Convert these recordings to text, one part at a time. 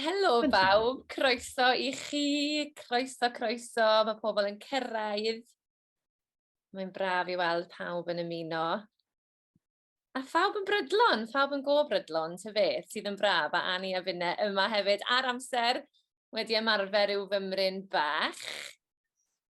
Helo bawb, croeso i chi, croeso, croeso, mae pobl yn cyrraedd. Mae'n braf i weld pawb yn ymuno. A phawb yn brydlon, phawb yn go brydlon, ty fe, sydd yn braf, a Annie a Finne yma hefyd, ar amser, wedi ymarfer i'w fymryn bach.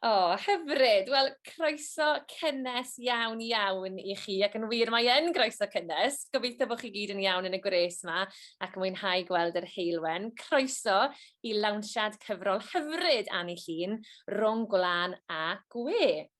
O, oh, hyfryd! Wel, croeso cynnes iawn, iawn i chi, ac yn wir mae yn groeso cynnes. Gobeithio bod chi gyd yn iawn yn y gwres yma ac yn mwynhau gweld yr heilwen. Croeso i lawnsiad cyfrol hyfryd Annie Llun, Rhwng Gwlan a Gwe.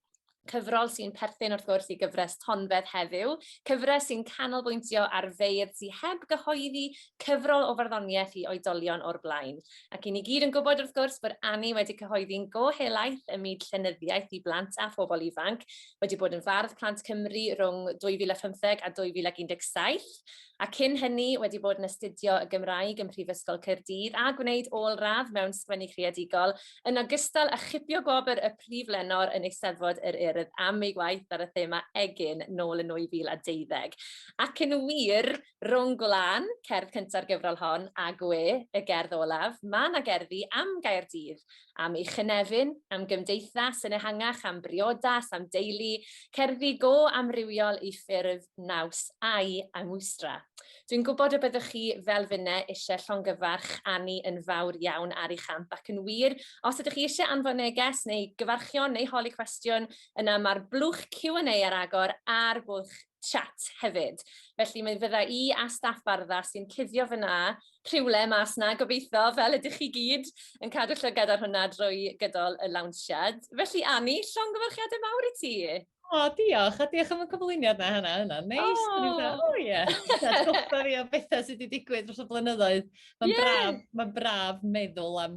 Cyfrol sy'n perthyn wrth gwrs i gyfres Tonfedd heddiw, cyfres sy'n canolbwyntio ar feirdd sy'n heb gyhoeddi cyfrol o farddoniaeth i oedolion o'r blaen. Ac i ni gyd yn gwybod wrth gwrs bod Annie wedi cyhoeddi'n go helaeth ym myd llenyddiaeth i blant a phobl ifanc, wedi bod yn fardd plant Cymru rhwng 2015 a 2017, a cyn hynny wedi bod yn astudio y Gymraeg ym Mhrifysgol Caerdydd a gwneud ôl-radd mewn sgwennu creadigol, yn ogystal â chipio gwobr y Prif Lenor yn Eisteddfod yr Urdd am ei waith ar y thema 'Egin' nôl yn 2012. Ac yn wir, Rhwng Gwlân, cerdd cynta'r gyfrol hon, a Gwe, y gerdd olaf, mae yna gerddi am Gaerdydd, am ei chynefin, am gymdeithas yn ehangach, am briodas, am deulu, cerddi go amrywiol i ffurf, naws a'i angwstra. Dwi'n gwybod y byddwch chi, fel finne, eisiau llongyfarch Annie yn fawr iawn ar ei champ, ac yn wir, os ydych chi eisiau anfon neges neu gyfarchion neu holi cwestiwn, yna mae'r blwch Q&A ar agor ar Bwlch chat hefyd. Felly mae fydda i a staff Bardda sy'n cuddio fyna rhywle mas na gobeithio fel ydych chi gyd yn cadw llygad ar hwnna drwy gydol y lawnsiad. Felly Annie, llongyfarchiadau mawr i ti! O, oh, diolch, a diolch am y cyflwyniad na hynna, hynna. Neis, oh. o ie. Atgoffa fi o bethau sydd wedi digwydd dros y blynyddoedd. Mae'n yeah. braf, mae braf meddwl am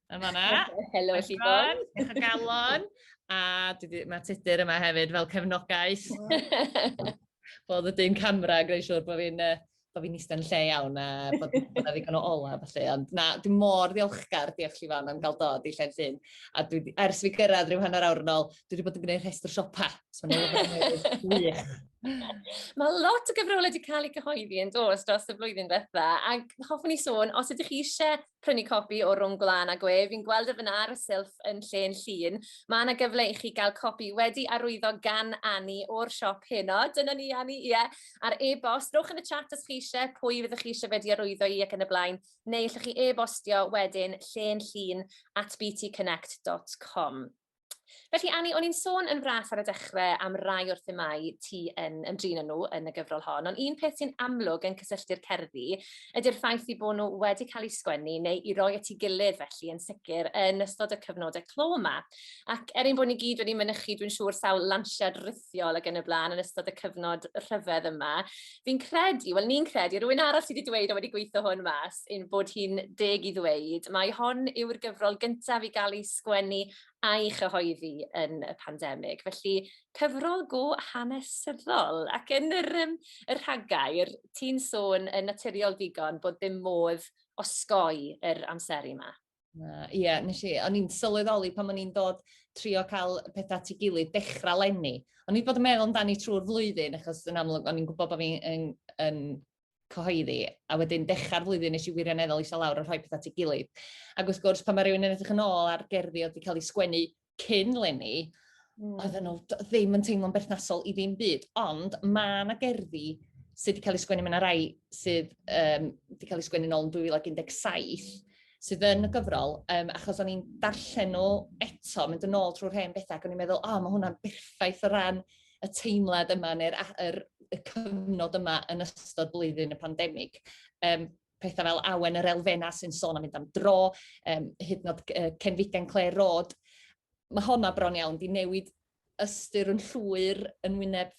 yn fanna. Helo, Siobhan. Diolch o galon. A mae Tudur yma hefyd fel cefnogaeth. Bod y dyn camera, greu siwr bod fi'n uh, bod fi'n eistedd yn lle iawn a bod yna ddigon o ola felly. Ond na, dwi'n mor ddiolchgar, diolch chi fan, am gael dod i lle'n llun. A dwi, ers fi gyrraedd rhyw hanner awr yn ôl, dwi wedi bod yn gwneud rhestr siopa. So Mae lot o gyfrolau wedi cael eu cyhoeddi yn dos dros y flwyddyn ddiwetha, ac hoffwn i sôn, os ydych chi eisiau prynu copi o Rhwng Gwlân a Gwe. Fi'n gweld e fyna ar y silff yn lle'n llun. Mae yna gyfle i chi gael copi wedi arwyddo gan Anni o'r siop heno. Dyna ni, Anni, ie. Yeah. Ar e-bost, rowch yn y chat os chi eisiau pwy fyddwch chi eisiau wedi arwyddo i ac yn y blaen, neu allwch chi e-bostio wedyn lle'n llun at btconnect.com. Felly Annie, o'n i'n sôn yn fras ar y dechrau am rai o'r themau ti yn ymdrin â nhw yn y gyfrol hon, ond un peth sy'n amlwg yn cysylltu'r cerddi ydy'r ffaith i bod nhw wedi cael eu sgwennu neu i roi at ei gilydd felly yn sicr yn ystod y cyfnodau clo yma. Ac er ein bod ni gyd wedi mynychu, dwi'n siŵr, sawl lansiad rhithiol ac yn y blaen yn ystod y cyfnod rhyfedd yma, fi'n credu, wel ni'n credu, rwy'n arall sydd wedi dweud o wedi gweithio hwn mas, ein bod hi'n deg i ddweud, mae hon yw'r gyfrol gyntaf i gael ei sgwennu a'i chyhoeddi yn y pandemig. Felly, cyfrol go hanesyddol. Ac yn yr, um, y rhagair, ti'n sôn yn naturiol digon bod ddim modd osgoi yr amseru yma. Ie, yeah, nes i, o'n i'n sylweddoli pan o'n i'n dod trio cael pethau at ei gilydd dechrau lenni. O'n i'n bod yn meddwl amdani trwy'r flwyddyn, achos yn amlwg o'n i'n gwybod bod fi'n yn, yn cyhoeddi, a wedyn dechrau'r flwyddyn nes i wirioneddol eisiau lawr a rhoi pethau at ei gilydd. Ac wrth gwrs, pan mae rhywun yn edrych yn ôl ar gerddi oedd wedi cael ei sgwennu cyn lenni, mm. oedd nhw ddim yn teimlo'n berthnasol i ddim byd, ond mae yna gerddi sydd wedi cael ei sgwennu, mae yna rai sydd um, wedi cael ei sgwennu nôl yn 2017, sydd yn y gyfrol, um, achos o'n i'n darllen nhw eto, mynd yn ôl trwy'r hen bethau, ac o'n i'n meddwl, o, oh, mae hwnna'n berffaith o ran y teimlad yma neu'r yr y cyfnod yma yn ystod blwyddyn y pandemig. Um, pethau fel awen yr elfenna sy'n sôn am mynd am dro, um, hyd yn oed uh, cenfigen cleu rod. Mae honna bron iawn di newid ystyr yn llwyr yn wyneb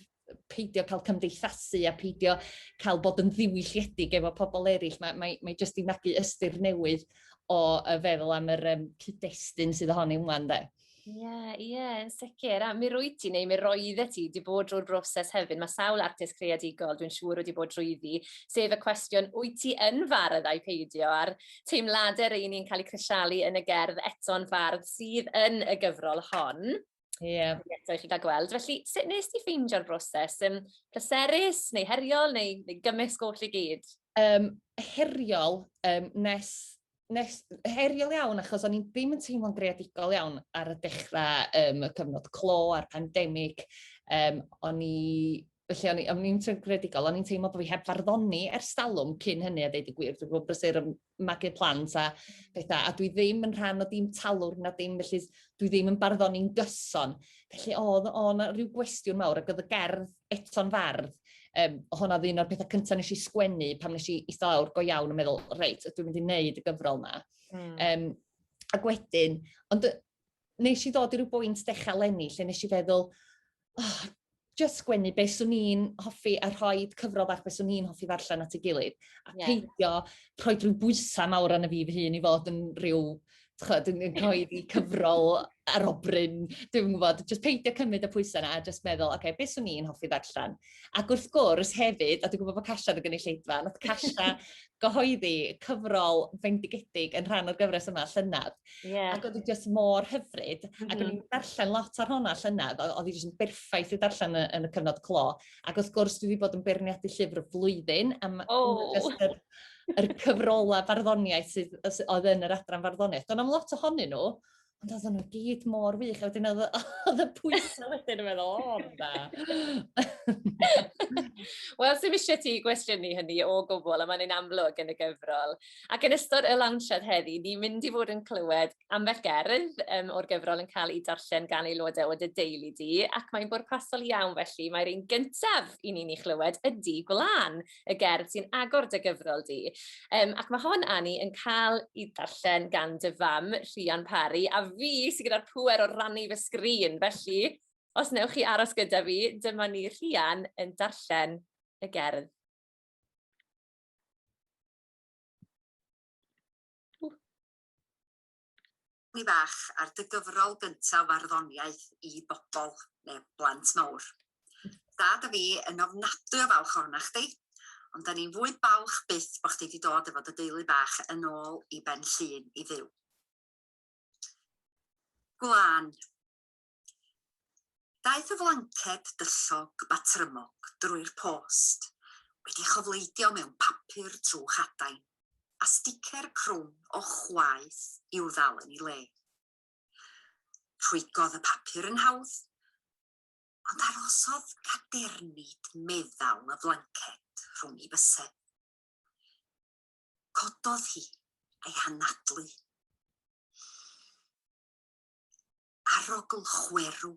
peidio cael cymdeithasu a peidio cael bod yn ddiwylliedig efo pobl eraill. Mae, mae, mae jyst i magu ystyr newydd o y feddwl am yr um, cyd-destun sydd ohoni ymlaen de. Ie, yeah, ie, yeah, yn sicr. A mi rwy ti, neu mi roedde ti, wedi bod drwy'r broses hefyd. Mae sawl artist creadigol, dwi'n siŵr, wedi bod drwyddi, sef y cwestiwn, wyt ti yn fardd a'i peidio, a'r teimladau rei ni'n cael eu crisialu yn y gerdd eto'n fardd sydd yn y gyfrol hon. Ie. Yeah. Eto i chi gael gweld. Felly, sut nes ti ffeindio'r broses? Um, pleserus, neu heriol, neu, neu gymysg oll i gyd? Um, heriol, um, nes nes, heriol iawn, achos o'n i'n ddim yn teimlo'n greadigol iawn ar y dechrau, um, y cyfnod clo a'r pandemig. Um, o'n i Felly, o'n i'n o'n i'n gredigol, o'n i'n teimlo bod fi heb farddoni ers talwm cyn hynny a dweud y gwir. Dwi'n gwybod brysur yn magu plant a pethau, a dwi ddim yn rhan o dim talwr na dim, felly dwi ddim yn barddoni'n gyson. Felly, oedd o'n rhyw gwestiwn mawr ac oedd y gerdd eto'n fardd, um, hwnna oedd un o'r pethau cyntaf nes i sgwennu pan nes i eistedd lawr go iawn yn meddwl, reit, ydw i'n mynd i wneud y gyfrol yma. Mm. Um, ac wedyn, ond nes i ddod i ryw bwynt dechrau lenni lle nes i feddwl, oh, just sgwennu beth swn i'n hoffi a rhoi cyfrol bach beth swn i'n hoffi ddarllen at ei gilydd. A yeah. peidio rhoi rhyw bwysau mawr arno fi fy hun i fod yn rhyw chod, yn, yn coeddi cyfrol ar obryn, dwi'n gwybod, jyst peidio cymryd y pwysau yna a jyst meddwl, oce, okay, beth swn i'n hoffi ddarllen? Ac wrth gwrs hefyd, a dwi'n gwybod bod Casha yn y gynulleidfa, oedd Casha gyhoeddi cyfrol fendigedig yn rhan o'r gyfres yma, llynedd. Yeah. Ac oedd hi jyst mor hyfryd, mm -hmm. ac o'n i'n darllen lot ar hwnna llynedd, oedd hi jyst yn berffaith i darllen yn, yn y cyfnod clo. Ac wrth gwrs, dwi wedi bod yn beirniadu llyfr y flwyddyn, am oh. just yr cyfrolau barddoniaeth sydd, oedd yn yr adran farddoniaeth. Do'n am lot ohonyn nhw, ond oedd nhw gyd mor wych. A wedyn oedd y pwysau wedyn yn meddwl, o, da. Wel, sy'n eisiau ti gwestiynu hynny o gwbl, a mae'n ein amlwg yn y gyfrol. Ac yn ystod y lansiad heddi, ni'n mynd i fod yn clywed ambell gerdd um, o'r gyfrol yn cael ei darllen gan aelodau o dy deulu di, ac mae'n bwrpasol iawn felly, mae'r un gyntaf i ni'n ei chlywed ydi Gwlan. y gerdd sy'n agor dy gyfrol di. Um, ac mae hon, Annie, yn cael i ddarllen gan dy fam, Rhian Parry, a fi sy'n gyda'r pwer o rannu fy sgrin. Felly, os newch chi aros gyda fi, dyma ni Rhian yn darllen y gerdd. Cymru Fach ar dy gyfrol gyntaf farddoniaeth i bobl, neu blant mawr. Dad a fi yn ofnadwy o falch ohona chdi, ond da ni'n fwy balch byth bod chdi wedi dod efo dy deulu bach yn ôl i Ben Llŷn i fyw. Gwlân. Daeth y flanced dyllog batrymog drwy'r post, wedi chofleidio mewn papur trwch adain, a sticer crwn o chwaeth i'w ddal yn ei le. Rhwygodd y papur yn hawdd, ond arosodd cadernid meddal y flanced rhwng ei bysedd. Cododd hi ei hanadlu. arogl chwerw,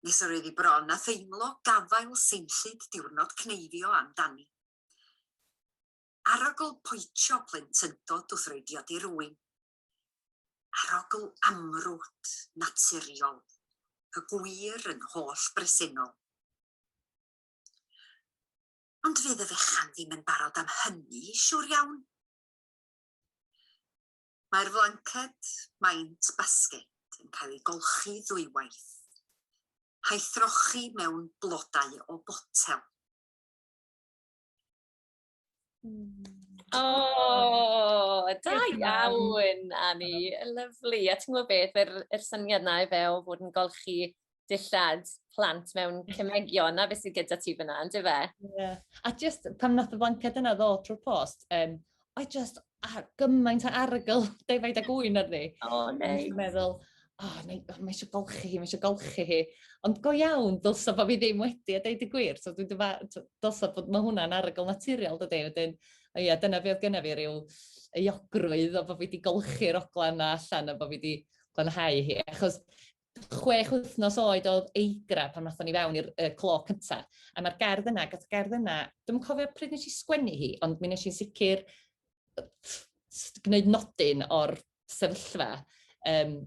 nes yr oedd hi bron â theimlo gafael seinllyd diwrnod cneifio am dani. Arogl poetio plentyndod wrth roi diod i rywun. Arogl amrwd, naturiol, y gwir yn holl bresennol. Ond fydd y fechan ddim yn barod am hynny, siwr iawn. Mae'r flanced maint basged yn cael ei golchi ddwywaith, a'i throchi mewn blodau o botel. Mm. O, da iawn, Annie. Lyflu. A ti'n gwybod beth, yr, yr syniad na i fe o fod yn golchi dillad plant mewn cymegion, na beth sydd gyda ti fyna, yn dyfe? Yeah. A just pan nath y flanced yna ddod trwy'r post, um, I just a gymaint o argyl defaid a gwy'n arni. O, oh, neis. Nice. meddwl, oh, mae, oh, mae eisiau golchi hi, mae eisiau golchi hi. Ond go iawn, dylsa bod fi ddim wedi a deud y gwir. So, dwi'n dyfa, dylsa bod mae hwnna'n argyl naturiol, dydy. Wedyn, o ia, dyna fi oedd gyna fi rhyw euogrwydd o bod fi wedi golchi'r ogla yna allan a bod fi wedi glanhau hi. Achos chwech wythnos oed oedd Eigra pan wnaethon ni fewn i'r uh, clo cynta. A mae'r gerdd yna, gath y gerdd yna, dwi'n cofio pryd nes i sgwennu hi, ond mi nes i'n sicr gwneud nodyn o'r sefyllfa. Um,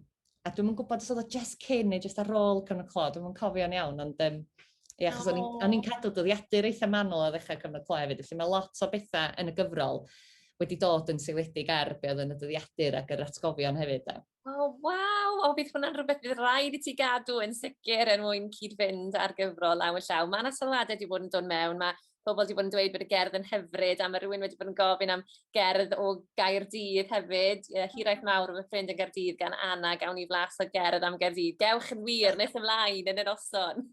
a dwi'n gwybod os oedd o just cyn neu just ar ôl cyn y clo, dwi'n cofio'n iawn, ond um, Ie, achos oh. o'n i'n cadw dyddiadur eitha manwl o ddechrau cyfnod clo hefyd, felly mae lot o bethau yn y gyfrol wedi dod yn seiledig ar be oedd yn y dyddiadur ac yr atgofion hefyd. Da. O waw! O bydd hwnna'n rhywbeth bydd raid i ti gadw yn sicr er mwyn cyd-fynd â'r gyfrol law yn llaw. Mae yna sylwadau wedi bod yn dod mewn, mae pobl wedi bod yn dweud bod y gerdd yn hyfryd a mae rhywun wedi bod yn gofyn am gerdd o Gaerdydd hefyd. Ie, hiraeth mawr o fy ffrind yn Gaerdydd gan Anna, gawn ni flas o gerdd am Gaerdydd. Gewch yn wir nes ymlaen yn yr oson.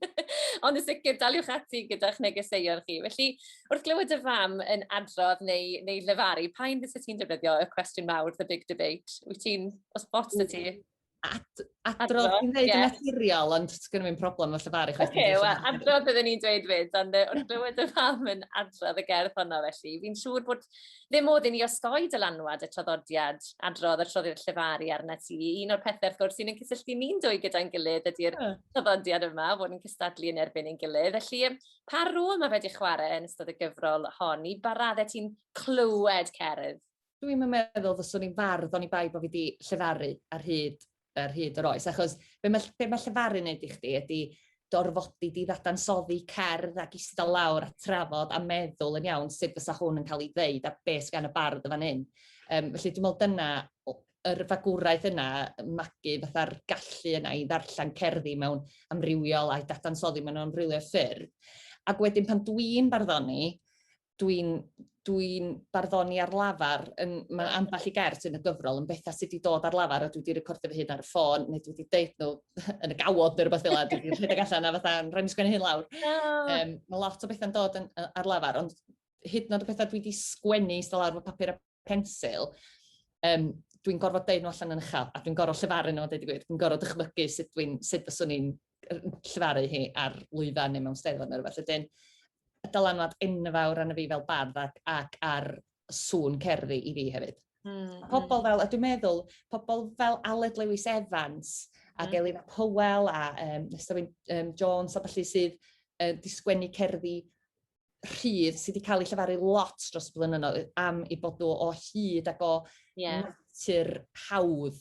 Ond yn sicr, daliwch ati gyda'ch negeseuon chi. Felly, wrth glywed dy fam yn adrodd neu neu llefaru, pa un fyset ti'n defnyddio y cwestiwn mawr, the big debate? Wyt ti'n, os ots 'da ti? Ad, adrodd yn dweud yn naturiol, ond sgynno fi'n problem efo llefaru chwaith. Oce, wel, adrodd byddwn ni'n dweud fyd, ond uh, wrth glywed y fam yn adrodd y gerdd honno felly, fi'n siŵr bod ddim modd i ni osgoi dylanwad y traddodiad adrodd y troddiad llefaru arna ti. Un o'r pethau, wrth gwrs, sy'n yn cysylltu ni'n dwy gyda'n gilydd ydy'r traddodiad yma, fod yn cystadlu yn erbyn ein gilydd. Felly, Pa rôl mae wedi chwarae yn ystod y gyfrol hon? I ba raddau ti'n clywed cerdd? Dwi 'im yn meddwl fyswn i'n fardd oni bai bo' fi 'di llefaru ar hyd ar hyd yr oes achos be' ma' be' ma' llefaru neud i chdi ydi dorfodi di ddadansoddi cerdd ac ista lawr a trafod a meddwl yn iawn sut fysa hwn yn cael ei ddeud a be' sy gan y bardd yn fan 'yn. Yym felly dwi me'wl dyna yr fagwraeth yna, magu fatha'r gallu yna i ddarllen cerddi mewn amrywiol a'i dadansoddi mewn amrywiol ffyrdd. Ac wedyn pan dwi'n barddoni, dwi'n dwi barddoni ar lafar, yn, mae ambell i gerdd sy'n y gyfrol yn bethau sydd wedi dod ar lafar a dwi wedi recordio fy hun ar y ffôn, neu dwi wedi deud nhw yn y gawod neu rhywbeth fel yna, dwi wedi rhedeg allan a fatha, rhaid mi sgwennu hyn lawr. Um, mae lot o bethau'n dod yn, ar lafar, ond hyd yn oed y pethau dwi wedi sgwennu i lawr fy papur a pensil, um, dwi'n gorfod deud nhw allan yn uchel, a dwi'n gorfod llefaru nhw, dweud i gwir. Dwi'n gorfod dychmygu sut, dwi sut fyswn i'n llefaru hi ar lwyfan neu mewn steddfod neu rhywbeth. Wedyn, y dylanwad enfawr arno fi fel bardd ac, ac ar sŵn cerddi i fi hefyd. Mm. Pobl fel, a dwi'n meddwl, pobl fel Aled Lewis Evans ac mm. Elina Powell a um, Nestawyn um, Jones a falle sydd uh, di sgwennu cerddi rhydd sydd wedi cael ei llefaru lot dros y blynyddoedd am ei bod o o hyd ac o yeah. natur hawdd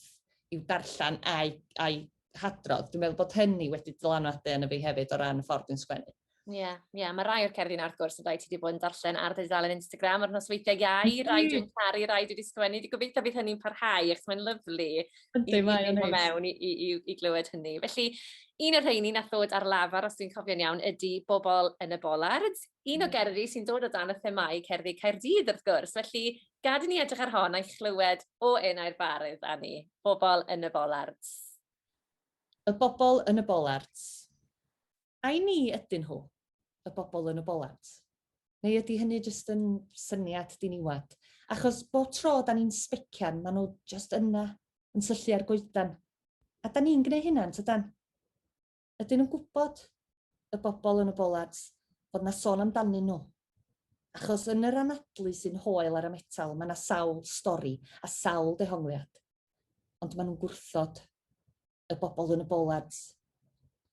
i'w darllen a'i, a'i hadrodd. Dwi'n meddwl bod hynny wedi dylanwadu yn y fi hefyd o ran y ffordd dwi'n sgwennu. Ie, yeah, ie, yeah. mae rai o'r cerddi yna wrth gwrs yn rhaid ti wedi bod yn darllen ar ddeudalen Instagram ar nosweithiau iau, rai dwi'n caru, rai dwi wedi sgwennu, dwi'n gobeithio bydd hynny'n parhau, ac mae'n lyflu Yndi, mae o'n neis. mewn i, i, i, i glywed hynny. Felly, un o'r rheini nath ddod ar lafar, os dwi'n cofio'n iawn, ydy Bobl yn y Bolard. Un o hmm. gerddi sy'n dod o dan y themau cerddi Caerdydd, wrth gwrs. Felly, gad i ni edrych ar hon a'i chlywed o enau'r barydd, Anni. Bobl yn y Bolard. Y Bobl yn y Bolard. Ai ni ydyn nhw, y bobl yn y bolant? Neu ydy hynny jyst yn syniad diniwad? Achos bob tro da ni'n sbecian, maen nhw jyst yna, yn syllu ar goedan. A da ni'n gwneud hynna, yn tydan? Ydyn nhw'n gwybod, y bobl yn y bolant, bod na sôn amdanyn nhw? Achos yn yr anadlu sy'n hoel ar y metal, mae na sawl stori a sawl dehongliad. Ond maen nhw'n gwrthod. y bobl yn y bolard.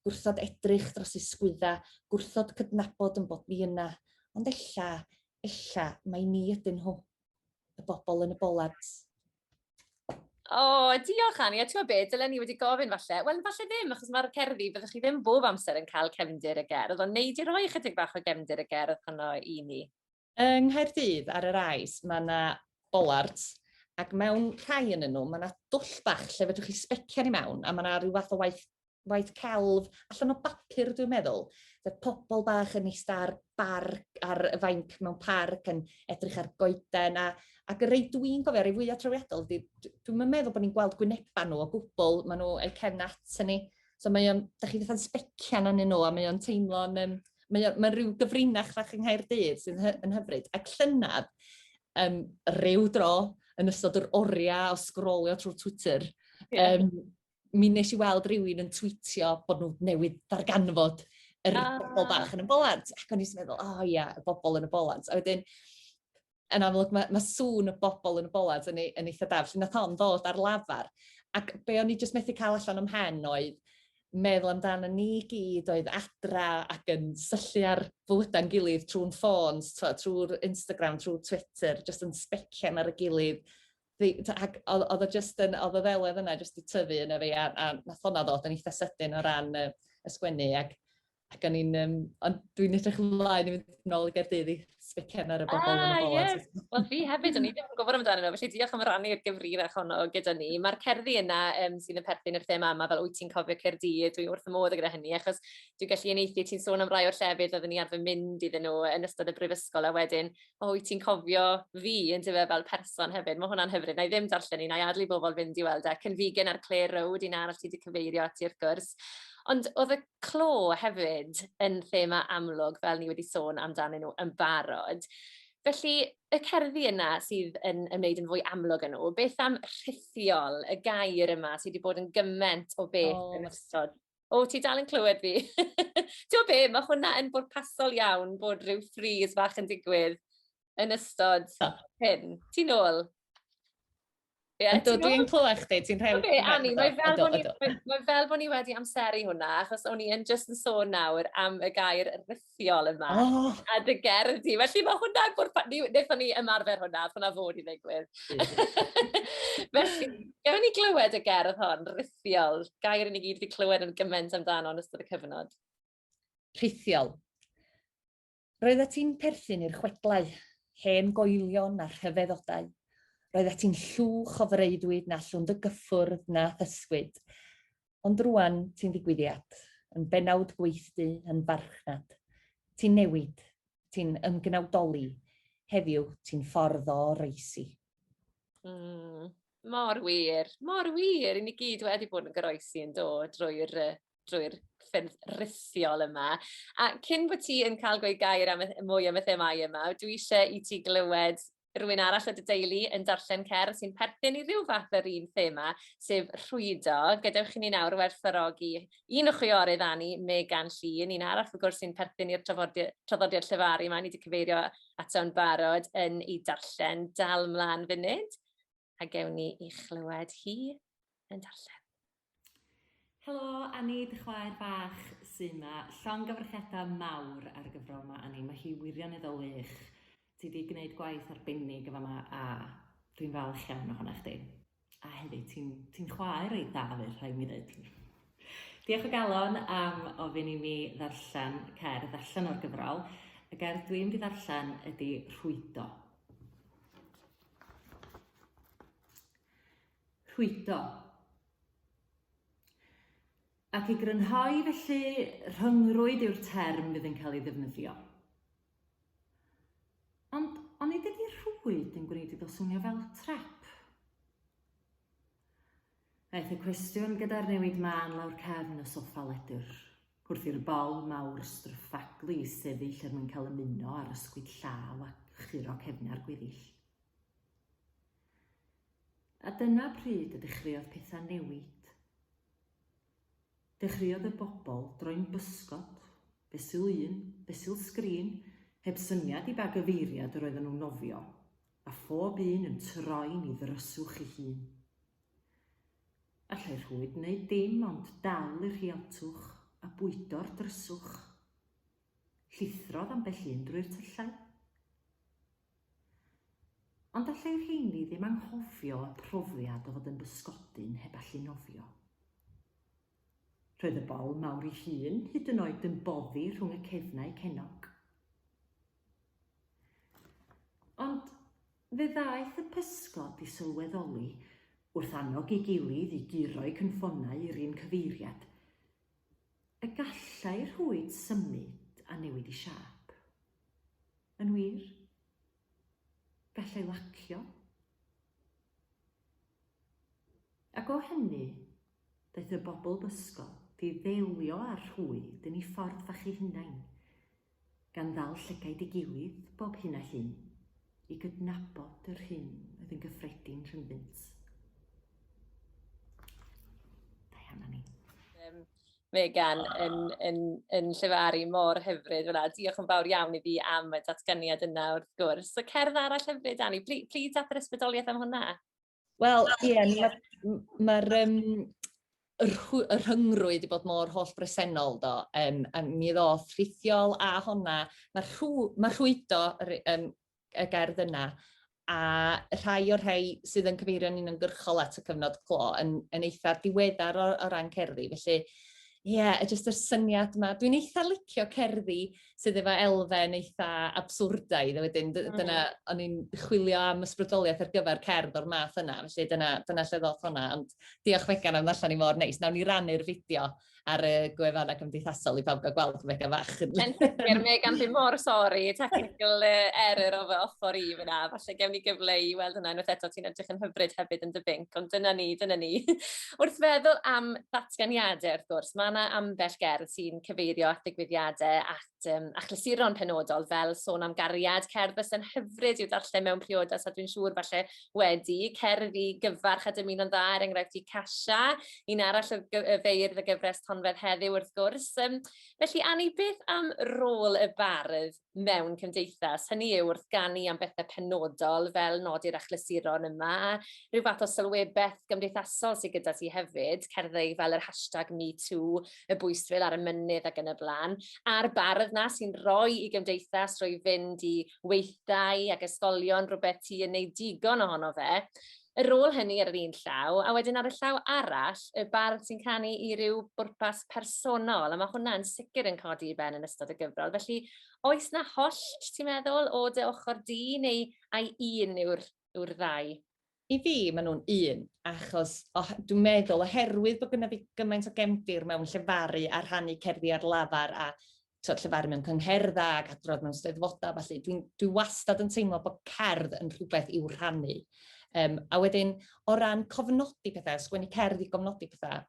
Gwrthod edrych dros ei sgwydda, gwrthod cydnabod yn bod ni yna, ond ella, ella, mae ni ydyn nhw, y bobl yn y bolard. O, oh, diolch Annie, a ti'n gwybod beth, dylen ni wedi gofyn falle. Wel, falle ddim, achos mae'r cerddi, byddwch chi ddim bob amser yn cael cefndir y gerdd, ond neud i roi chydig bach o gefndir y gerdd honno i ni. Yng Nghaerdydd ar yr Ais mae 'na bollards ac mewn rhai ynnyn nhw mae 'na dwll bach lle fedrwch chi sbecian i mewn a mae 'na rhyw fath o waith waith celf allan o bapur dwi'n meddwl fe pobl bach yn ista ar bar ar y fainc mewn parc yn edrych ar goeden a ac y rei dwi'n gofio rei fwya trawiadol 'di d- dwi'm yn meddwl bod ni'n gweld gwyneba nhw o gwbl ma' nhw eu cefn at hynny So mae o'n, da chi fatha'n specian anyn nhw a mae o'n teimlo'n, um, mae o'n, mae rhyw gyfrinach fach yng Nghaerdydd sy'n hy, yn hyfryd. Ac llynad, um, rhyw dro, yn ystod yr oriau o sgrolio trwy Twitter, yeah. um, mi nes i weld rhywun yn tweetio bod nhw newydd ddarganfod yr ah. bobl bach yn y bolant. Ac o'n i'n meddwl, o oh, ia, yeah, y bobl yn y bolant. A wedyn, yn amlwg mae, mae sŵn y bobl yn y bolad yn, ei, yn eitha da, felly nath hon ddod ar lafar. Ac be o'n i jyst methu cael allan am hen oedd meddwl amdano ni gyd oedd adra ac yn syllu ar fywydau'n gilydd trwy'n ffôns, trwy'r Instagram, trwy Twitter, jyst yn specian ar y gilydd. Ac oedd o jyst yn, oedd o ddelwedd yna jyst i tyfu yn y fi, a, a nath hwnna ddod yn eitha sydyn o ran y, y sgwennu. Ac Ac o'n i'n yym ond dwi'n edrych ymlaen i fynd nôl i Gaerdydd i sbiken ar y bobol yn y bola. Ah ie. Wel fi hefyd o'n i ddim yn gwybod amdanyn nhw felly diolch am rannu'r gyfrinach honno gyda ni. Mae'r cerddi yna um, sydd yn perthyn i'r thema yma fel wyt ti'n cofio Caerdydd dwi wrth y modd gyda hynny achos dwi'n gallu unieithu ti'n sôn am rai o'r llefydd oeddwn ni arfer mynd iddyn nhw yn ystod y brifysgol a wedyn o wyt ti'n cofio fi yn dyfa fel person hefyd mae hwnna'n hyfryd na i ddim darllen un a'i adlu bobl fynd i weld e Cynfigen a'r Clare Road un arall ti wedi cyfeirio at i'r gwrs Ond oedd y clo hefyd yn thema amlwg fel ni wedi sôn amdanyn nhw yn barod. Felly, y cerddi yna sydd yn ymwneud yn fwy amlwg â nhw, beth am rhithiol, y gair yma sydd wedi bod yn gyment o beth oh. yn ystod o, ti dal yn clywed fi. Ti'n be, mae hwnna yn bod pasol iawn bod rhyw ffriz fach yn digwydd yn ystod hyn. Ti'n ôl? Yeah, Yndw, dwi'n clywed chdi, ti'n rhaid... Oce, Annie, mae fel, bod ni, mae fel bod ni wedi amseru hwnna, achos o'n i yn just yn sôn nawr am y gair rhithiol yma, oh. a dy gerdd di. Felly mae hwnna, wnaethon ni ymarfer hwnna, hwnna fod i ddigwydd. Felly, gafon ni glywed y gerdd hon, rhithiol, gair yn i gyd wedi clywed yn gymaint amdano yn ystod y cyfnod. Rhithiol. Roeddet ti'n perthyn i'r chwedlau, hen goelion a rhyfeddodau. Roeddet ti'n llwch o freuddwyd na allwn dy gyffwrdd na thysgwyd. Ond rŵan ti'n ddigwyddiad, yn bennawd gweithdy, yn farchnad. Ti'n newid, ti'n ymgnawdoli, heddiw ti'n ffordd o oroesi. Mm, mor wir, mor wir, i ni gyd wedi bod yn goroesi yn dod drwy'r drwy'r ffyrdd rhithiol yma. A cyn bod ti yn cael gweud gair am y, mwy am y themau yma, dwi eisiau i ti glywed rhywun arall o dy deulu yn darllen cer sy'n perthyn i ryw fath yr un thema, sef rhwydo. Gadewch i ni nawr werthfarogi un o chwiorydd Anni, Megan Llun, un arall wrth gwrs sy'n perthyn i'r traddodiad llefaru yma, ni wedi cyfeirio ato'n barod yn ei darllen. Dal mlaen funud. a gewn ni i chlywed hi yn darllen. Helo, Annie, dy chwaer bach sy'n ma. Llongyfarchiadau mawr ar y gyfrol yma, Annie. Mae hi wirioneddol wych. Ti wedi gwneud gwaith arbennig efo yma a dwi'n falch iawn ohono chdi. A hefyd, ti'n ti chwaer ei da fi, rhaid mi ddweud. Diolch o galon am ofyn i mi ddarllen cerdd allan o'r gyfrol. Y gerdd dwi'n mynd i ddarllen ydy Rhwydo. Rhwydo. Ac i grynhoi felly, rhyngrwyd yw'r term fydd yn cael ei ddefnyddio. Ond onid ydy rhwyd yn gwneud iddo swnio fel trap? Aeth y cwestiwn gyda'r newid mân lawr cefn y soffa ledr, wrth i'r bol mawr stryffaglu sefyll er mwyn cael ymuno â'r ysgwyd llaw a churo cefnau'r gweddill. A dyna pryd y dechreuodd pethau newid. Dechreuodd y bobl droi'n bysgod, fesul un, fesul sgrin, heb syniad i ba gyfeiriad yr oedden nhw'n nofio, a phob un yn troi'n i ddryswch ei hun. Allai rhwyd wneud dim ond dal i'r rhiantwch a bwydo'r dryswch. Llithrodd ambell un drwy'r tyllau. Ond allai rheini ddim anghofio y profiad o fod yn bysgodyn heb allu nofio. Roedd y bol mawr ei hun hyd yn oed yn boddi rhwng y cefnau cennog. Ond fe ddaeth y pysgod i sylweddoli, wrth annog ei gilydd i guro'i cynffonau i'r un cyfeiriad, y gallai rhwyd symud a newid i siâp. Yn wir, Gallai lacio. Ac o hynny, daeth y bobl bysgod i ddelio â'r rhwyd yn ei ffordd fach ei hunain, gan ddal llygaid ei gilydd bob hyn a hyn, i gydnabod yr hyn oedd yn gyffredin rhyngddynt. Dau hanner ni. Megan yn, yn, yn llefaru mor hyfryd fyna. Diolch yn fawr iawn i fi am y datganiad yna wrth gwrs. So cerdd arall hyfryd, Dani. Pli, pli at yr ysbrydoliaeth am hwnna. Wel, ie, yeah, mae'r ma, ma um, y rhyngrwyd wedi bod mor holl bresennol do. Um, a mi ddoth rhithiol a honna, mae rhw, ma rhwydo um, y gerdd yna, a rhai o'r rhai sydd yn cyfeirio'n uniongyrchol at y cyfnod clo yn, yn eitha diweddar o, o ran cerddi. Felly, ie, yeah, jyst y syniad yma. Dwi'n eitha licio cerddi sydd efo elfen eitha abswrdaidd, a wedyn mm. dyna, o'n i'n chwilio am ysbrydoliaeth ar gyfer cerdd o'r math yna, felly dyna, dyna lle ddoth hwnna, ond diolch Megan am ddarllen i mor neis. Nawn ni rannu'r fideo ar y gwefannau cymdeithasol i bawb gael gweld Mega Fach. Yn sicr, Megan, fi mor sori, technical error o fy ochr i fyna, falle gewn ni gyfle i weld hwnna unwaith eto, ti'n edrych yn hyfryd hefyd yn dy binc, ond dyna ni, dyna ni. Wrth feddwl am ddatganiadau, wrth gwrs, mae yna ambell gerdd sy'n cyfeirio at ddigwyddiadau ac at um, achlysuron penodol fel sôn am gariad, cerdd fysa'n hyfryd i'w darllen mewn priodas a dwi'n siŵr falle wedi, cerdd i gyfarch a dymuno'n dda er enghraifft i Casha, un arall y feirdd y gyfres tonfedd heddiw wrth gwrs. Um, felly Anni, beth am rôl y bardd mewn cymdeithas? Hynny yw wrth ganu am bethau penodol fel nodi'r achlysuron yma a rhyw fath o sylwebaeth gymdeithasol sydd gyda ti hefyd, cerddau fel yr hashtag MeToo, y bwystfil ar y mynydd ac yn y blaen, a'r bardd na sy'n rhoi i gymdeithas roi fynd i weithdai ac ysgolion rhywbeth ti yn neud digon ohono fe, yr ôl hynny ar yr un llaw, a wedyn ar y llaw arall, y bardd sy'n canu i ryw bwrpas personol, a mae hwnna yn sicr yn codi i ben yn ystod y gyfrol. Felly, oes na hollt, ti'n meddwl, o dy ochr di, neu ai un yw'r yw'r ddau? I fi, maen nhw'n un, achos dwi'n meddwl oherwydd bod gyda fi gymaint o gefndir mewn llefaru a rhannu cerddi ar lafar a tywed, llefaru mewn cyngherddau ac adrodd mewn steddfodau, felly dwi'n dwi wastad yn teimlo bod cerdd yn rhywbeth i'w rhannu. Um, a wedyn, o ran cofnodi pethau, sgwennu cerdd i gofnodi pethau,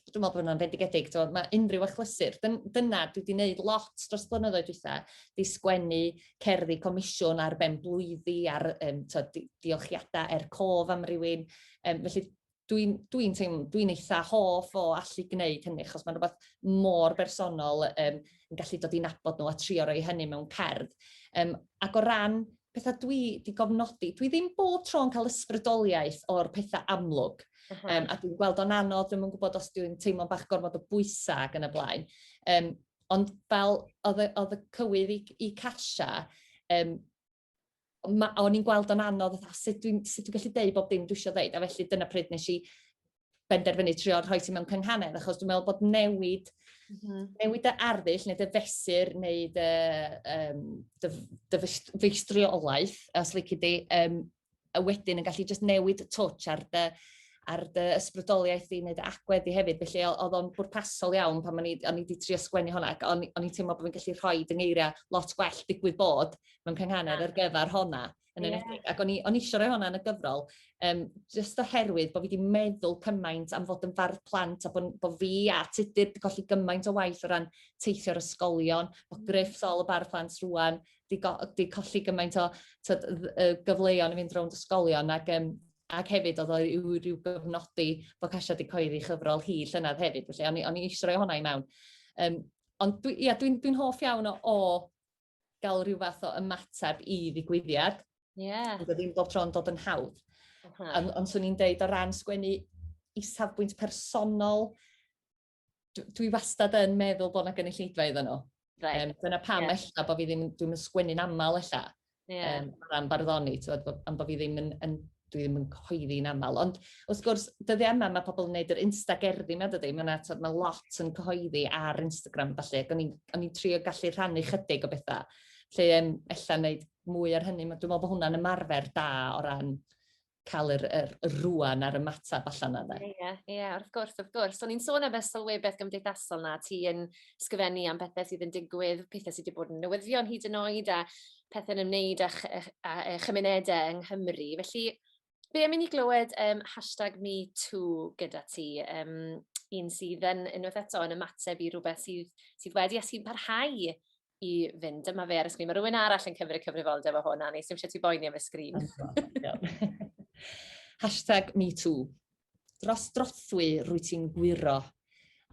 dwi'n meddwl bod hwnna'n fendigedig, so, mae unrhyw achlysur, dyna dwi wedi gwneud lot dros blynyddoedd dwytha, di sgwennu cerddi comisiwn ar ben blwyddi, ar um, to, diolchiadau er cof am rywun, um, felly dwi'n dwi teimlo, dwi'n eitha hoff o allu gwneud hynny, achos mae'n rhywbeth mor bersonol um, yn gallu dod i'n abod nhw a trio roi hynny mewn cerdd. Um, ac o ran pethau dwi wedi gofnodi, dwi ddim bob tro yn cael ysbrydoliaeth o'r pethau amlwg. Uh -huh. um, a dwi'n gweld o'n anodd, dwi'n gwybod os dwi'n teimlo'n bach gormod o bwysau ac yn y blaen. Um, ond fel oedd y, oedd y cywydd i, i Casha, um, o'n i'n gweld o'n anodd, a sut dwi'n dwi gallu deud bob dim dwi eisiau dweud, a felly dyna pryd nes i benderfynu trio rhoi ti mewn cynghanedd, achos dwi'n meddwl bod newid, mm -hmm. newid dy arddull neu dy fesur neu dy, um, dy, dy feistriolaeth, os lyci di, um, a wedyn yn gallu just newid twtch ar dy, ar dy ysbrydoliaeth di neu dy agwedd di hefyd. Felly oedd o'n bwrpasol iawn pan o'n i, o'n i di trio sgwennu hwnna ac o'n, o'n i'n teimlo bod fi'n gallu rhoi dyngeiriau lot gwell digwydd bod mewn cynghanedd ar gyfer hwnna. yn yeah. enedig. Ac o'n i, on i eisiau rhoi hwnna yn y gyfrol, um, just oherwydd bod fi wedi meddwl cymaint am fod yn fardd plant a bod, bod fi a tudur wedi colli gymaint o waith o ran teithio'r ysgolion, bod mm. Griff Sol y bardd plant rwan, di, go, di colli gymaint o tyd, gyfleon i fynd rownd ysgolion ac um, ac hefyd oedd oedd yw rhyw gyfnodi bod Casia wedi coeddi chyfrol hi llynedd hefyd, felly o'n i, on i eisiau rhoi hwnna i mewn. Um, ond dwi, ia, dwi'n dwi hoff iawn o, o gael rhyw fath o ymateb i ddigwyddiad. Ie. Ond oedd ddim bob tro yn dod yn hawdd. Ond on, swn i'n deud o ran sgwennu i safbwynt personol, dwi wastad yn meddwl bod yna gynulleidfa iddyn nhw. Right. Um, dyna pam yeah. ella bod fi ddim, dwi'n sgwennu'n aml ella. Yeah. Um, am barddoni, tywed, am bod fi ddim yn, yn dwi ddim yn cyhoeddi'n aml, ond wrth gwrs, dyddiau yma mae pobl yn gwneud yr insta gerddi yma, dydy, mae yna mae lot yn cyhoeddi ar Instagram, felly, ac o'n i'n trio gallu rhannu chydig o bethau, lle um, ella wneud mwy ar hynny, dwi'n meddwl bod hwnna'n ymarfer da o ran cael yr, yr, yr rwan ar y matab allan yna. Ie, yeah, ie, yeah, wrth gwrs, wrth gwrs. So ni'n sôn am y sylwebaeth gymdeithasol na, ti yn sgyfennu am bethau sydd yn digwydd, pethau sydd wedi bod yn newyddion hyd yn oed, a pethe'n ymwneud â ch- ych â yy chymunede yng Nghymru felly be' am i ni glywed yym hashtag me too gyda ti yym un sydd yn unwaith eto yn ymateb i rwbeth sydd sydd wedi a sy'n parhau i fynd dyma fe ar y sgrîn ma' rywun arall yn cymryd cyfrifoldeb o hwn Annie sdim isie ti boeni am y sgrîn. Hashtag me too. Dros drothwy rwy ti'n gwiro,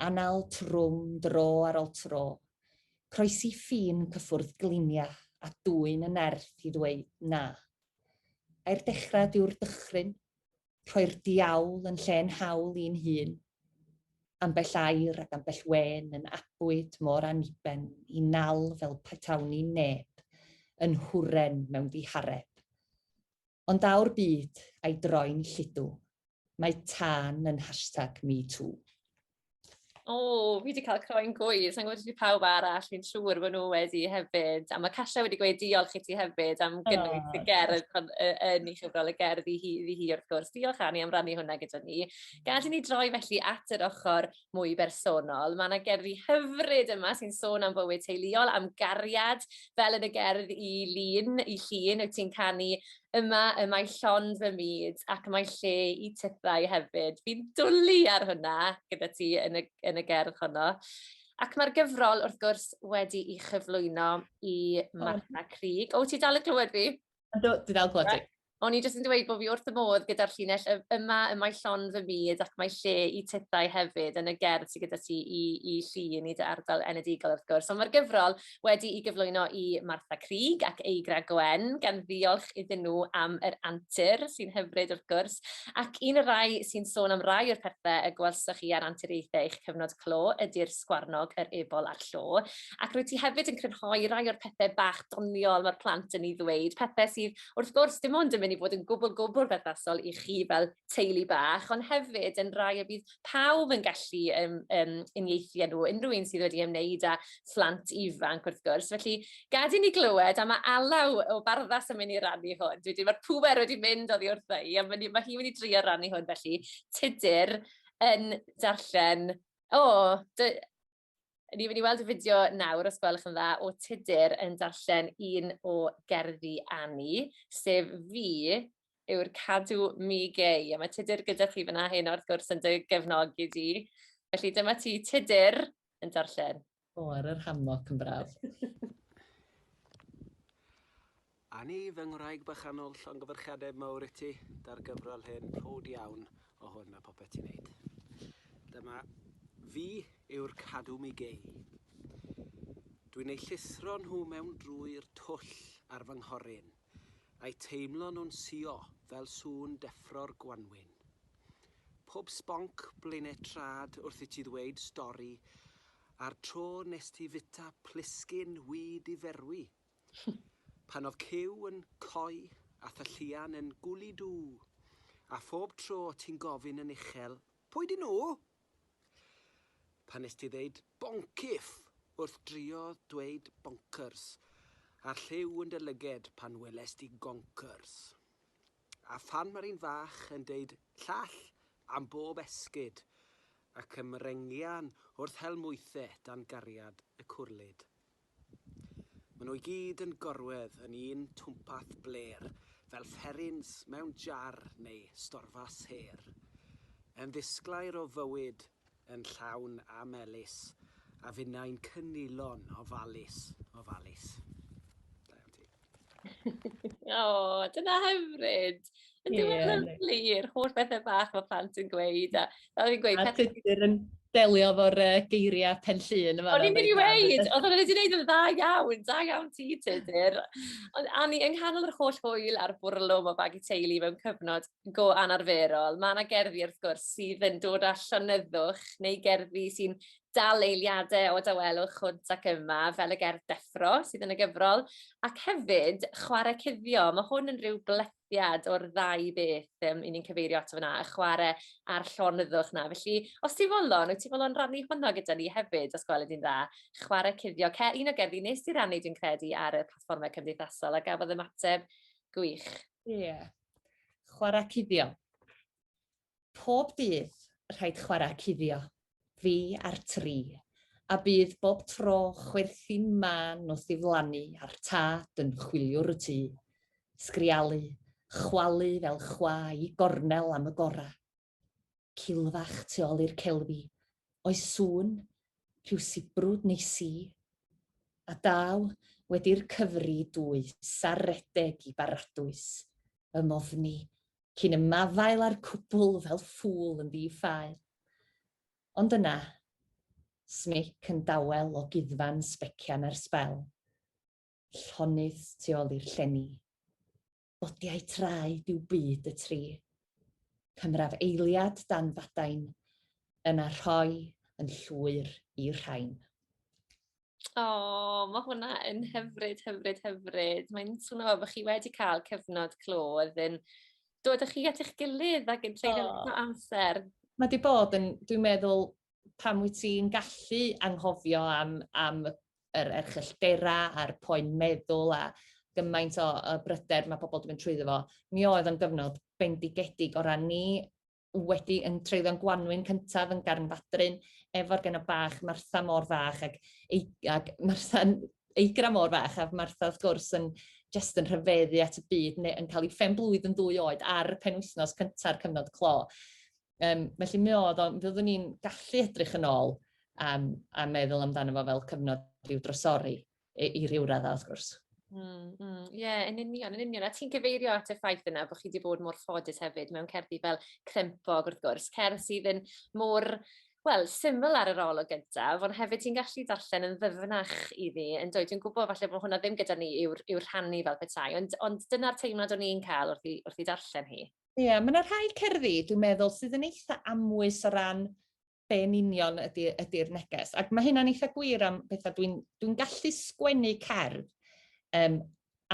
anal trwm dro ar ol tro, croesi ffin cyffwrdd glinia a dwyn y nerth i ddweud na. Ai'r dechrad yw'r dychryn, rhoi'r diawl yn lle'n hawl i'n hun, ambell air ac ambell wen yn abwyd mor aniben i nal fel petawn i'n neb, yn huren mewn dihareb. Ond daw'r byd a'i droi'n lludw, mae tân yn hashtag me too. O, oh, fi wedi cael croen gwydd, sa'n gwybod i pawb arall, fi'n siŵr bod nhw wedi hefyd. A mae Casha wedi gweud diolch i ti hefyd am gynnwys oh. y gerdd yn ei chyfrol y gerdd i hi, i hi wrth gwrs. Diolch Annie am rannu hwnna gyda ni. Gad i ni droi felly at yr ochr mwy bersonol. Mae yna gerddi hyfryd yma sy'n sôn am fywyd teuluol, am gariad, fel yn y gerdd i Lun, i Llun, wyt ti'n canu yma y mae llond fy myd ac mae lle i tythau hefyd. Fi'n dwlu ar hwnna gyda ti yn y, yn y gerdd honno. Ac mae'r gyfrol, wrth gwrs, wedi i chyflwyno i Martha Crig. O, ti dal y clywed fi? Dwi dal clywed ti. O'n i jyst yn dweud bod fi wrth fy modd gyda'r llinell y- yma, y mae llon fy myd ac mae lle i tithau hefyd yn y gerdd sydd gyda ti i, i llun i dy ardal enedigol wrth gwrs. Ond mae'r gyfrol wedi i gyflwyno i Martha Crig ac Eigra Gwen, gan ddiolch iddyn nhw am yr antur sy'n hyfryd wrth gwrs, ac un y rai sy'n sôn am rai o'r pethau y gwelsoch chi ar anturiaethau eich cyfnod clo ydy'r sgwarnog, yr ebol a'r llo. Ac rwy ti hefyd yn crynhoi rai o'r pethau bach doniol mae'r plant yn ei ddweud, pethau sydd wrth gwrs, dim ond yn mynd i fod yn gwbl, gwbl berthnasol i chi fel teulu bach, ond hefyd yn rhai y bydd pawb yn gallu um, um, uniaethu â nhw, unrhyw un sydd wedi ymwneud â phlant ifanc wrth gwrs. Felly, gad i ni glywed am y alaw o barddas yn mynd i rannu hwn. Dwi wedi, mae'r pŵer wedi mynd oddi wrtha i, a mae hi'n mynd i drio rannu hwn felly. Tudur yn darllen, o, oh, Ni'n mynd i weld y fideo nawr, os gwelwch yn dda, o Tudur yn darllen un o gerddi Annie, sef fi yw'r cadw mi gei. A mae Tudur gyda chi fyna hyn wrth gwrs yn dy gefnogi di. Felly dyma ti Tudur yn darllen. O, ar yr hammock yn braf. Anni, fy ngwraig bychanol, llongyfarchiadau mawr i ti 'da'r gyfrol hyn, prowd iawn o hwn a popeth ti'n neud. Dyma fi yw'r cadw mi gei. Dwi'n eu llithro nhw mewn drwy'r twll ar fy nghoryn, a'u teimlo nhw'n suo fel sŵn deffro'r gwanwyn. Pob sbonc blaenau trad wrth i ti ddweud stori, a'r tro nes ti fita plisgyn wŷ di ferwi Pan oedd Cyw yn coy a Thylluan yn gwly du, a phob tro ti'n gofyn yn uchel, Pwy 'dyn nhw? Pan wnest ti ddeud 'boncyff' wrth drio dweud 'bonkers', a'r lliw yn dy lyged pan welest ti 'gonkers'. A phan mae'r un fach yn deud 'llall' am bob esgid, ac ymrengian wrth hel mwythe dan gariad y cwrlid. Maen nhw i gyd yn gorwedd yn un twmpath blêr, fel fferins mewn jar neu storfas her. Yn ddisglair o fywyd, yn llawn a melys, a finnau'n cynulon ofalus, ofalus. Da iawn ti. o, dyna hyfryd. Yn yeah. ddiwedd lyflu i'r holl bethau bach mae plant yn gweud. A, a fi'n gweud... A tydyr yn delio fo'r uh, geiriau pen llun. O'n i'n mynd i weid, oedd o'n wedi gwneud yn dda iawn, da iawn ti, tydyr. Ond Anni, yng nghanol yr holl hwyl a'r bwrlwm o bag i teulu mewn cyfnod go anarferol, mae yna gerddi wrth gwrs sydd yn dod â llonyddwch neu gerddi sy'n dal eiliadau o dawelwch hwnt ac yma, fel y gerdd deffro sydd yn y gyfrol, ac hefyd chwarae cuddio. Mae hwn yn rhyw blethiad o'r ddau beth um, i ni'n cyfeirio ato fyna, y chwarae a'r llonyddwch na. Felly, os ti'n folon, wyt ti'n folon rannu hwnna gyda ni hefyd, os gweled i'n dda, chwarae cuddio. Cer, un o gerddi nes i rannu, dwi'n credu, ar y platfformau cymdeithasol, a gafodd ymateb gwych. Ie, yeah. chwarae cuddio. Pob dydd, rhaid chwarae cuddio, fi a'r tri, a bydd bob tro chwerthin mân wrth ddiflannu a'r tad yn chwiliwr y tŷ. Sgrialu, chwalu fel chwa i gornel am y gora. Cilfach tu ol i'r celfi, oes sŵn, rhyw sibrwd neu si? A daw, wedi'r cyfri dwys ar redeg i Baradwys, fy mofni, cyn ymafael â'r cwbl fel ffŵl yn ddi-ffael. Ond yna, smic yn dawel o guddfan sbecian ar sbel, llonydd tu ol i'r llenni. Bodiau traed yw byd y tri. Cymraf eiliad dan fadain, yna rhoi yn llwyr i'r rhain. O, oh, mae hwnna yn hyfryd, hyfryd, hyfryd. Mae'n swnio fel bod chi wedi cael cyfnod clo oedd yn dod â chi at eich gilydd ac yn treulio oh. amser. Mae wedi bod yn, dwi'n meddwl, pan wyt ti'n gallu anghofio am, am yr erchylltera a'r poen meddwl a gymaint o, o bryder mae pobl wedi mynd trwyddo fo, mi oedd yn gyfnod bendigedig o ran ni wedi yn treulio'n gwanwyn cyntaf yn garn fadryn efo'r genod bach Martha mor fach ac, ei, ac Martha'n eigra mor fach a Martha wrth gwrs yn jyst yn rhyfeddu at y byd neu yn cael ei phen blwydd yn ddwy oed ar y penwythnos cynta'r cyfnod clo. Um, felly mi oedd o, mi oeddwn ni'n gallu edrych yn ôl um, a meddwl amdano fo fel cyfnod rhyw drosori. i, i ryw raddau, wrth gwrs. Ie, mm, mm. yeah, yn union, yn union. A ti'n cyfeirio at y ffaith yna bod chi wedi bod mor ffodus hefyd mewn cerddi fel Crempog, wrth gwrs, cerdd sydd yn mor wel, syml ar yr ol o gyntaf, ond hefyd ti'n gallu darllen yn ddyfnach i fi, yn dweud, dwi'n gwybod falle bod hwnna ddim gyda ni yw'r yw rhannu fel petai, ond, ond dyna'r teimlad o'n i'n cael wrth i, wrth i darllen hi. Ie, yeah, mae yna rhai cerddi, dwi'n meddwl, sydd yn eitha amwys o ran be yn union ydy, ydy'r neges. Ac mae hynna'n eitha gwir am bethau. Dwi'n dwi gallu sgwennu cerdd, um,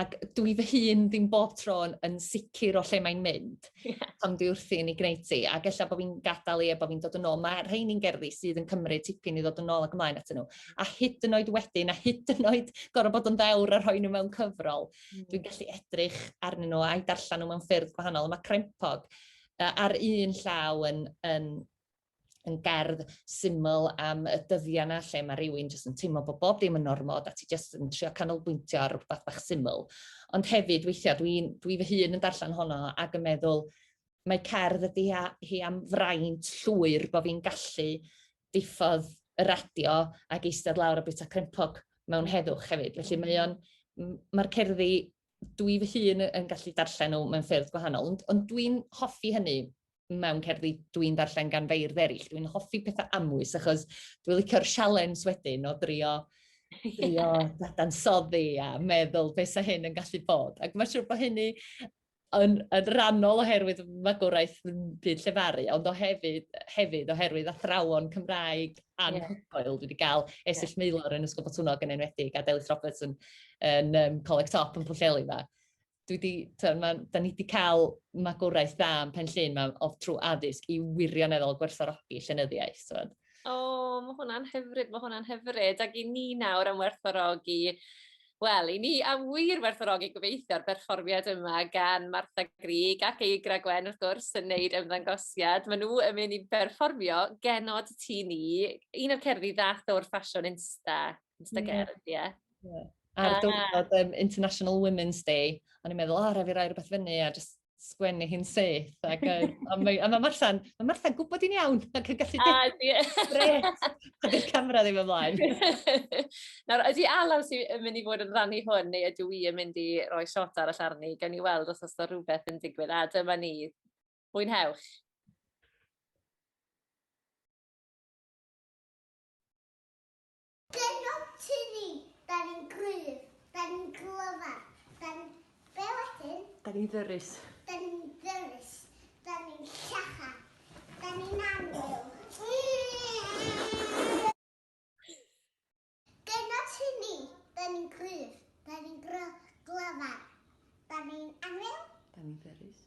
ac dwi fy hun ddim bob tro yn sicr o lle mae'n mynd yeah. pan dwi wrthi yn ei gwneud ti. Ac efallai bod fi'n gadael i e, bod fi'n dod yn ôl. Mae rhain i'n gerddi sydd yn cymryd tipyn i ddod yn ôl ac ymlaen atyn nhw. A hyd yn oed wedyn, a hyd yn oed gorau bod yn ddewr a rhoi nhw mewn cyfrol, mm. dwi'n gallu edrych arnyn nhw a'i darllen nhw mewn ffyrdd gwahanol. Mae crempog ar un llaw yn, yn yn gerdd syml am y dyddiau yna lle mae rhywun jyst yn teimlo bod bob dim yn normod a ti jyst yn trio canolbwyntio ar rhywbeth bach syml. Ond hefyd weithiau dwi, dwi fy hun yn darllen honno ac yn meddwl mae cerdd ydy hi am fraint llwyr bod fi'n gallu diffodd y radio ac eistedd lawr a bwyta crempog mewn heddwch hefyd. Felly mae o'n, mae'r cerddi dwi fy hun yn gallu darllen nhw mewn ffyrdd gwahanol, ond, ond dwi'n hoffi hynny mewn cerddi dwi'n darllen gan feirdd eraill. Dwi'n hoffi pethau amwys achos dwi'n licio'r sialens wedyn o drio drio dadansoddi a meddwl beth sy'n hyn yn gallu bod. Ac mae'n siŵr bod hynny yn, yn rannol oherwydd magwraeth yn byd llefaru, ond o hefyd, hefyd oherwydd athrawon Cymraeg anhygoel. Yeah. Dwi wedi cael Esill yeah. Meilor yn Ysgol Botwnnog yn enwedig a Delyth Roberts yn yn um, Coleg Top yn Pwllheli yma. Dwi di, to, ma, da ni wedi cael magwraeth dda yn Pen Llyn ma, o trwy addysg i wirioneddol gwerthorogi llenyddiaeth. O, oh, mae hwnna'n hyfryd, mae hwnna'n hyfryd. Ac i ni nawr am werthorogi Wel, i ni am wir werthorogi gobeithio'r berfformiad yma gan Martha Grig ac ei Gwen wrth gwrs yn neud ymddangosiad. Maen nhw yn mynd i berfformio genod ti ni, un o'r cerddi ddath o'r ffasiwn insta. It's the girl, ie. Ar diwrnod um, International Women's Day, o'n i'n meddwl, o, rhaid fi rai rhywbeth fyny a just sgwennu hi'n syth. Ac, um, a mae, a mae Martha'n ma Martha gwybod i'n iawn ac yn gallu dweud a dy'r camera ddim ymlaen. Nawr, ydy Alaw sy'n mynd i fod yn rannu hwn neu ydw i yn mynd i roi shot arall arni, gan i weld os oes da rhywbeth yn digwydd a dyma ni. Mwynhewch. Gennym ti ni, da ni'n gryf, da ni'n glyfar, da ni'n... Be wedyn? Da ni'n ddyrus. Da ni'n ddyrus, da ni'n llacha, da ni'n annwyl. Gennym ti ni, da ni'n gryf, da ni'n glyfar, da ni'n annwyl. Da ni'n ddyrus.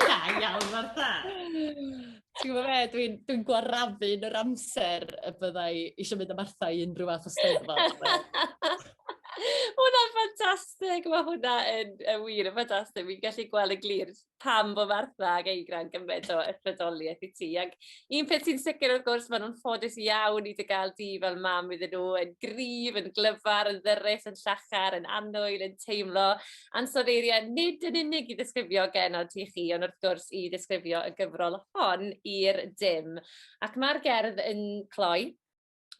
da iawn, Martha. Ti'n gwybod beth, dwi'n dwi gwarafu yn yr amser y byddai eisiau mynd am Martha i unrhyw fath o steddfod. hwnna'n ffantastig, mae hwnna yn, yn wir yn ffantastig. Fi'n gallu gweld y glir pam bod Martha ac Eigra'n gymaint o ysbrydoliaeth i ti. Ac un peth sy'n sicr wrth gwrs, maen nhw'n ffodus iawn i dy gael di fel mam iddyn nhw, yn grif, yn glyfar, yn ddyrus, yn llachar, yn anwyl, yn teimlo ansod eiriau, nid yn unig i ddisgrifio genod ti chi, ond wrth gwrs i ddisgrifio y gyfrol hon i'r dim. Ac mae'r gerdd yn cloi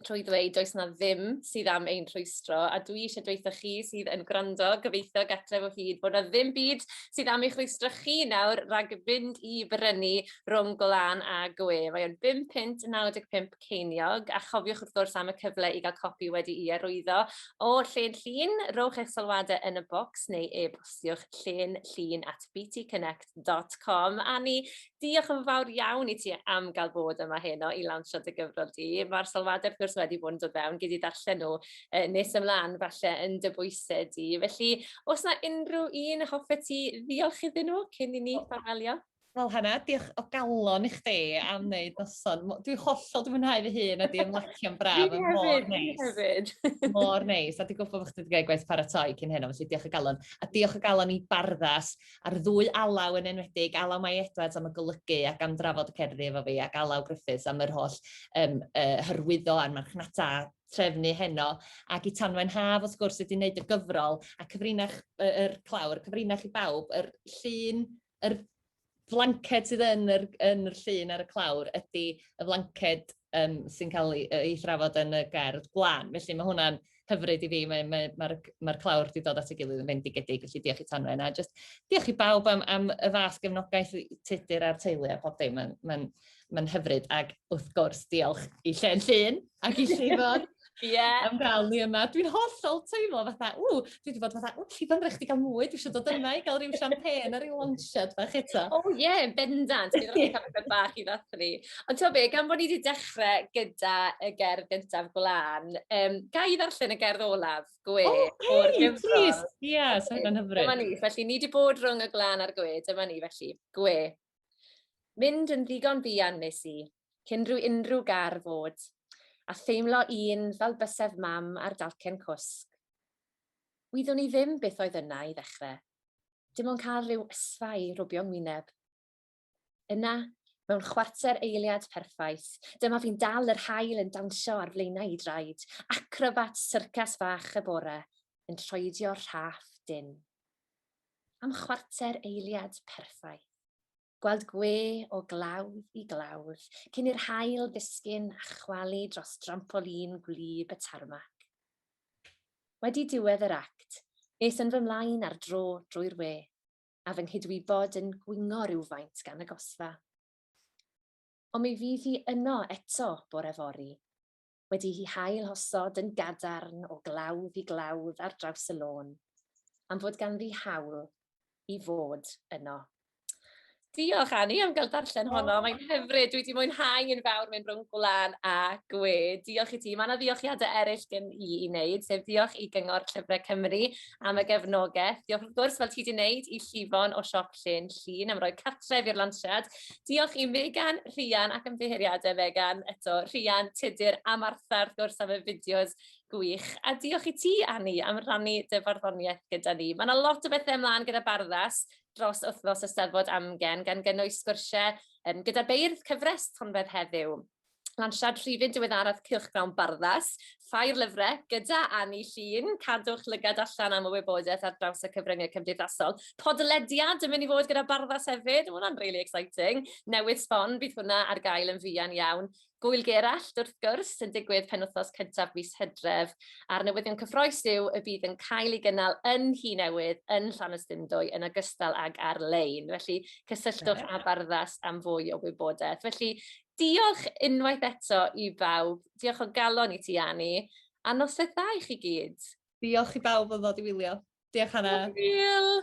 trwy ddweud does na ddim sydd am ein rhwystro a dwi eisiau dweitha chi sydd yn gwrando gobeithio gatref o hyd bod na ddim byd sydd am eich rhwystro chi nawr rhag fynd i brynu rhwng golan a gwe. Mae o'n 5 pint 95 ceiniog a chofiwch wrth gwrs am y cyfle i gael copi wedi i arwyddo o Llên Llun. Rowch eich sylwadau yn y bocs neu e-bostiwch llên llun at btconnect.com. Annie, Diolch yn fawr iawn i ti am gael bod yma heno i lawnsio dy gyfrol di. Mae'r sylwadau, wrth gwrs, wedi bod yn dod fewn, gyd i ddarllen nhw uh, nes ymlaen falle yn dy bwysau di. Felly, os yna unrhyw un hoffe ti ddiolch iddyn nhw cyn i ni ffarwelio? Wel, Hannah, diolch o galon i chdi am wneud noson. Dwi hollol dwi'n mwynhau fy hun a di ymlacio'n braf. Fi hefyd, fi hefyd. Mor neis, a di gwybod bod chdi wedi gwneud gwaith paratoi cyn heno, felly diolch o galon. A diolch o galon i Barddas a'r ddwy alaw yn enwedig, alaw Mai Edwards am y golygu ac am drafod y cerddi efo fi, ac alaw Griffiths am yr holl um, uh, hyrwyddo a'r marchnata trefnu heno, ac i Tanwen Haf, wrth gwrs, wedi wneud y gyfrol, a cyfrinach yr er, er clawr, cyfrinach i bawb, yr llun, yr flanced sydd yn yr, yn yr llun ar y clawr ydy y flanced um, sy'n cael ei, ei thrafod yn y gerdd glan. Felly mae hwnna'n hyfryd i fi, mae'r mae, mae, mae, mae clawr wedi dod at y gilydd yn fendigedig, felly diolch i Tanwen. A just diolch i bawb am, am y fath gefnogaeth tudur a'r teulu a pob dim. Mae'n mae, mae hyfryd. Ac wrth gwrs, diolch i Llen Llun ac i Llifon Yeah. Am gael ni yma. Dwi'n hollol teimlo fatha, ww, dwi wedi bod fatha, ww, chi fymrech chi gael mwy, dwi eisiau dod yma i gael rhyw champagne ar ei launchad bach eto. O oh, ie, yeah, bendant, bydd rhaid cael rhywbeth bach i ddathlu. Ond ti'n be, gan bod ni wedi dechrau gyda y gerdd gyntaf gwlan, um, ga i ddarllen y gerdd olaf, gwe, oh, okay, o'r gyfrol. Ie, yeah, so hynny'n hyfryd. Dyma ni, felly ni wedi bod rhwng y glan a'r gwe, dyma ni, felly, gwe. Mynd yn ddigon buan nes i, cyn rhyw unrhyw gar fod, a theimlo un fel bysedd mam ar dalcen cwsg. Wyddwn i ddim beth oedd yna i ddechrau, dim ond cael rhyw ysfa i rwbio ngwyneb. Yna, mewn chwarter eiliad perffaith, dyma fi'n dal yr haul yn dawnsio ar flaenau i draed, acrobat syrcas fach y bore, yn troedio rhaff dyn. Am chwarter eiliad perffaith. gweld gwe o glawdd i glawdd, cyn i'r haul ddisgyn a chwalu dros drampolin gwlyb y tarmac. Wedi diwedd yr act, nes yn fy mlaen ar dro drwy'r we, a fy nghydwybod yn gwingo rywfaint gan y gosfa. Ond mi fydd hi yno eto bore fory. wedi'i hailosod yn gadarn o glawdd i glawdd ar draws y lôn, am fod ganddi hawl i fod yno. Diolch Annie am gael darllen oh. honno. Mae'n hyfryd. Dwi wedi mwynhau yn fawr mewn rhwng gwlan a gwe. Diolch i ti. Mae yna ddiolchiadau eraill gen i i wneud, sef diolch i Gyngor Llyfrau Cymru am y gefnogaeth. Diolch wrth gwrs, fel ti wedi wneud, i Llifon o Siop Llyn Llyn am roi cartref i'r lansiad. Diolch i Megan, Rhian ac ymddiheuriadau Megan eto, Rhian, Tudur a Martha wrth gwrs am y fideos gwych. A diolch i ti, Anni, am rannu dy farddoniaeth gyda ni. Mae yna lot o bethau ymlaen gyda Barddas dros wythnos Eisteddfod Amgen, gan gynnwys sgwrsiau um, gyda beirdd cyfres Tonfedd Heddiw. Lansiad rhifyn diweddaraf Cylchgrawn Barddas, Ffair Lyfrau, gyda Anni Llun. Cadwch lygad allan am y wybodaeth ar draws y cyfryngau cymdeithasol. Podlediad yn mynd i fod gyda Barddas hefyd, mae hwnna'n really exciting. Newydd sbon, bydd hwnna ar gael yn fuan iawn. Gwyl Gerallt, wrth gwrs, yn digwydd penwthos cyntaf mis hydref, a'r newyddion cyffroes yw y bydd yn cael ei gynnal yn hi newydd yn Llanystumdwy yn ogystal ag ar-lein. Felly, cysylltwch â Barddas am fwy o wybodaeth. Felly, Diolch unwaith eto i bawb. Diolch o galon i ti Ani. A noson dda i chi gyd. Diolch i bawb am ddod i wylio. Diolch Hannah. Hwyl!